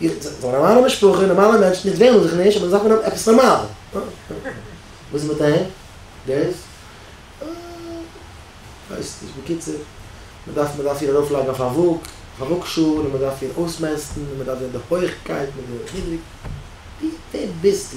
איך זיי נארמאלע משפחה נארמאלע מענטשן איך וועלן זיך נישט אבער זיי דארפן האבן עפעס נארמאל וואס איז מיט דעם דעיס ווייס נישט בקיצור מען דארף מען דארף איר ארויף לייגן אויף א וואג אויף א וואג שאל און מען דארף איר אויסמעסטן און מען דארף זען די הויכקייט מיט די נידריג ווער ביסטו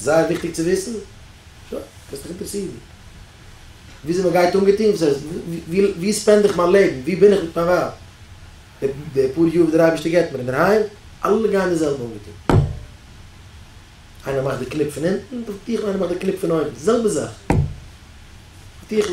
זייער וויכטיג צו וויסן. שוין, קענסט דיך אינטערעסירן וויאזוי מען גייט אנגעטון, וואס הייסט, ווי ספענד איך מיין לעבן, ווי בין איך מיט מיין ווייב, די פאר יאר וואס דער אייבערשטער געבט מיר אינדערהיים, אלע גייען די זעלבע אנגעטון. איינער מאכט די קניפ פון אונטן, דארף טיכל, איינער מאכט די קניפ פון אויבן, זעלבע זאך. טיכל.